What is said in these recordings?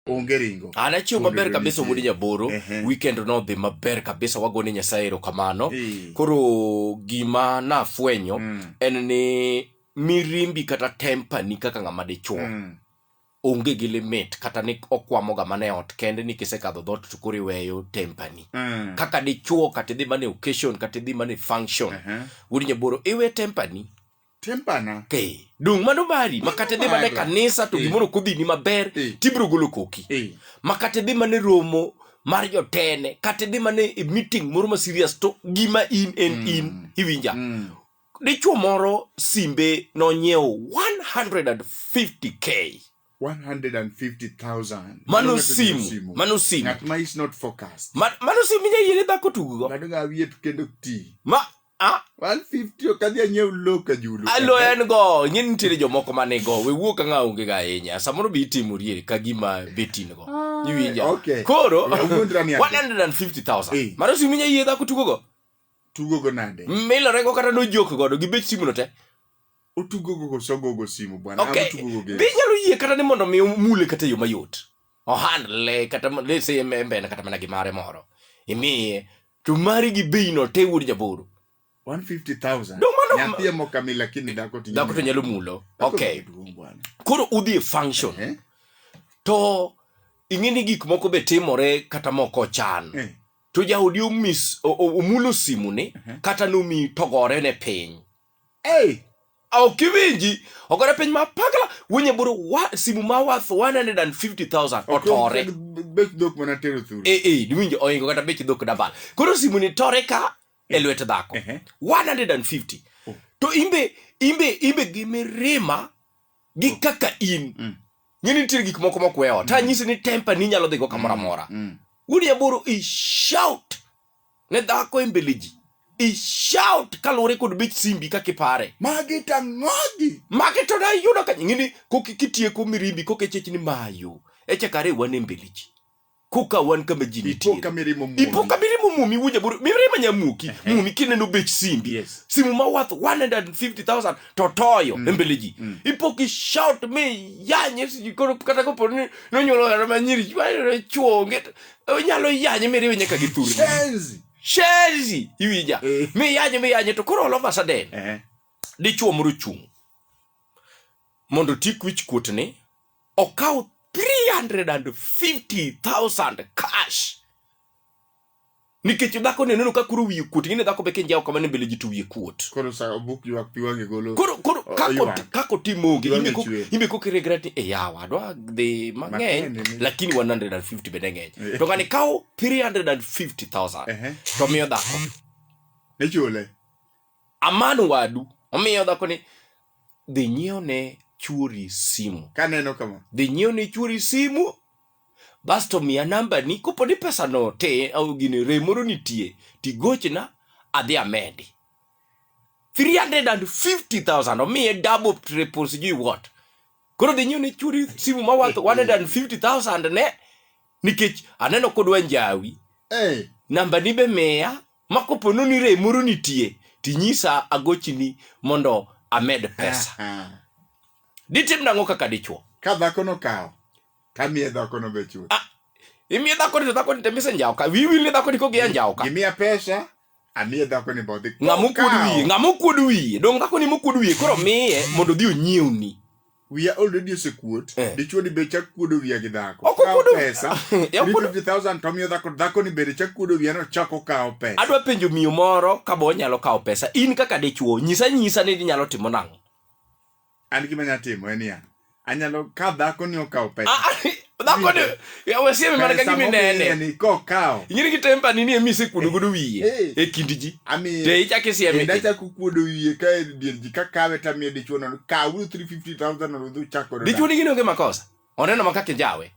onge ringo an achiew maber kabisa wuod nyaboro uh -huh. weekend nodhi maber kabisa wagone nyasaye erokamano hey. koro gima nafwenyo mm. en ni mirimbi kata tempa ni kaka ng'ama dichuo mm. onge gi limit kata ni okwamo ga mane ot kende ni kisekadho dhot to koro iweyo tempani mm. kaka dichuo kata idhi mane occasion kata idhi mane function uh -huh. wuod nyaboro iwe tempani tempana eh, dung' mano mari makata idhi mana e kanisa to eh. gimoro kodhini maber eh. tibiro golo koki eh. makata idhi mana e romo mar jotene kata idhi mana e meeting moro ma serious to gima in en mm. in iwinja mm. dichuo moro simbe nonyiewo 150k 150,000. Mano simu. Mano simu. Ng'at ma is not focused. Ma, mano simu minya yele dhako tugo. Mano ga wiye kendo ti. Ma Ah, 150 ok adhi anyiew low ka julu. alo en go ing'e ni nitiere jomoko ma nigo we wuo ka ng'a onge ga ahinya samoro be itimori ka gima betin go Ah. iwinja Okay. koro Ya, wuondra ni ati. 150000 Eh. mano simu inya yie dhako tugo go Tugo go nade? milore go kata nojok godo gi bech simu no te Otugo go sogo go simu bwana. okay Ama tugo go be game. inyalo yie kata ni mondo mi mule kata e yo mayot ohandle kata mo- let's say embe embe en kata mana gi mare moro imiye to mari gi bei no te wuod jaboro 150,000. No, mano- Nyathi emo kami lakini dhako to dhako to nyalo mulo Dhako okay duong' bwana. koro udhi e function Eh? to ing'e ni gik moko be timore kata moko ochan Eh. to jaodi omis o- o- omulo simune kata nomi togore ne piny Hey, ok iwinji ogore piny ma pagla winye buru wa, simu ma worth 150,000 otore bech dhok mana tero thuru eh eh diwinjo oingo kata bech dhok dabal koro simu ni tore ka e lwet dhako Ehe. 150 Oh. to imbe imbe imbe gi mirima gi kaka in Mm. ng'e ni nitiere gik moko mokwewa ta nyisi ni temper ni nyalo dhigo kamoro amora Mm. wuod yaburu i shout ne dhako e mbele ji ishout kaluwore kod bech simbi kaka ipare magi to ang'ogi magi to nayudo ka ng'ini koka kitieko mirimbi koka ichich ni mayo echakare wan e mbele ji koka wan kama ji nitie ipoka mirimo muomi. ipoka mirimo mumi wuja buru mirima nyamuki mumi kineno bech simbi Yes. simu ma worth 150000 to toyo mm. embele ji mm. ipoki shout me yanye siji koro kata kopo ni nonyuolo hera manyiri chwayore chuonge onyalo yanye miriwe nyaka gi thurni Shenzi. shenzi iwinja Eh. miyanye miyanye to koro olova saden Eh. dichuo moro chung' mondo tik wich kuotni okaw 350000 cash nikech dhako ne neno ka koro wiye kuot ing'e ni dhako be kinjawo kamano mbele ji to wiye kuot Koro sa obuk ywak pi wang'e golo. koro koro O- kako oywak. kako timo onge Iwang'e imbe kok- chwer. imbe kok iregret ni e yawa adwa dhi mang'eny Mang'eny ni- lakini 150 bende ng'eny Eh. to ng'ani kawo 350000 Ehe. to miyo dhako Nichule. aman wadu omiyo dhako ni dhi nyiewo ne chuori simu Kaneno kama. dhi nyiewo ne chuori simu basto miya namba ni kopo ni pesa no te au gini rem moro nitie tigochna adhi amedi 350000 omiye double triple sijui what koro dhi nyiew ne chwori simu ma worth 150000 ne nikech aneno kodwa njawi Eh, namba ni be miya ma kopo noni rem moro nitie tinyisa agochini mondo amed pesa aha. ditim nang'o kaka dichwo ka dhako nokawo tamiye dhakono be chuth imiye dhakoni to dhakoni te misenjawo ka wiwil ni dhakoni kogiya njawo ka gimiya pesa amiye dhako ni bodhi ng'ama okuod wiye ng'ama okuod wiye dong dhako ni mokuod wiye koro miye mondo odhi onyiewni wiya already osekuot eh. dichuo ni be chak kuodo wiya gi dhako ok okuodo pesa ya okuodo 50000 to miyo dhako dhako ni be chak kuodo wiya no chako kawo pesa adwa penjo miyo moro ka bo nyalo kawo pesa in kaka dichuo nyisa nyisa ni nyalo timo nang'o an gima nya timo en ya anyalo ka dhako ni okawo pesa ah, ah, dhako ni ya wasieme mana ka gimi nene ni ko kawo ingiri ki tempa ni ni emise kuodo godo wiye hey. e kindi ji ami te icha ki sieme enda cha kuodo wiye ka e dier ji ka kawe ta mi dichwo no ka wu 350000 no du chako dichwo ni gino ke makosa oneno makake jawe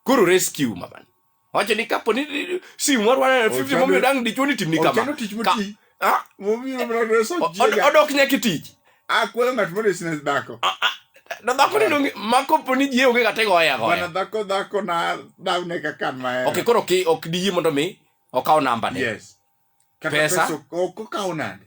kuru rescue maban wacho ni kapo ni sim war wana fifty momiyo dang dichuo ni timni kama odok nyaka tich akwelo ng'at mondo isine dhako na dhako ni donge ma kopo ni jie onge kata igoye agoya bana dhako dhako na dawne kaka an mahero ok koro ki ok diyie mondo mi okaw namba ne yes kata pesa ok okaw nande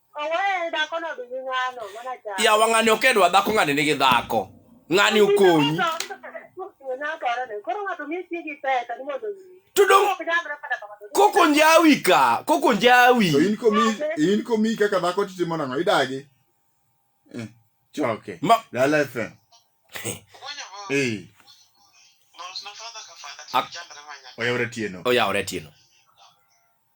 yawa ng'ani ok edwa dhako ng'ani nigi dhako ng'ani okonyi to dong koko njawi ka koko njawi in komiyi kaka dhako titimo nang'o idagi eh, choke dala fm oyawre tieno oyawre tieno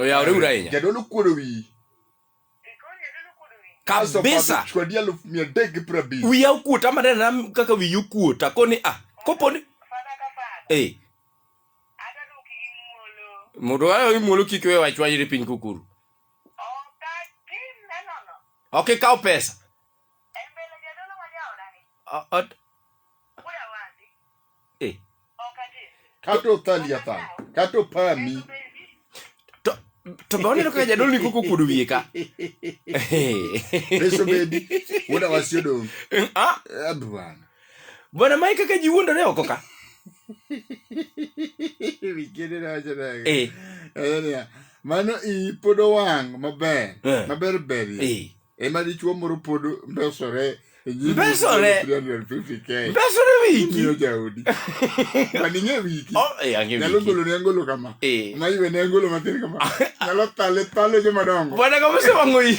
oyaw riwra ahinya jadolo kuodo wiyi kabisa wiya okuota manena kaka wiyi okuota koni a ah, koponi eh. mondo wayo imuolo kik we wachwanyre piny kukuru ok ikaw pesa Kato thali athan. Kato pami. To to be oneno kaka jadolo ni koko kuodo wiye ka. Reso bedi. Wuoda wasi odong'. Ah. Eh, bwana. Bwana Mike kaka ji wuondore oko ka. Wikende na wacho nago. Eh. Mano i pod owang' maber. Eh. Maber ber. Eh. ema dichuo moro pod mbesore e nyim Mbesore? 350K. Mbesore wiki. Imiyo jaodi. Maning'e wiki. Oh, eh, ang'e Nyalo wiki. golo ne angolo kama. Eh. Ma iwe ne angolo matin kama. Nyalo thale thale joma dongo. Bwana kama usewang'o hii.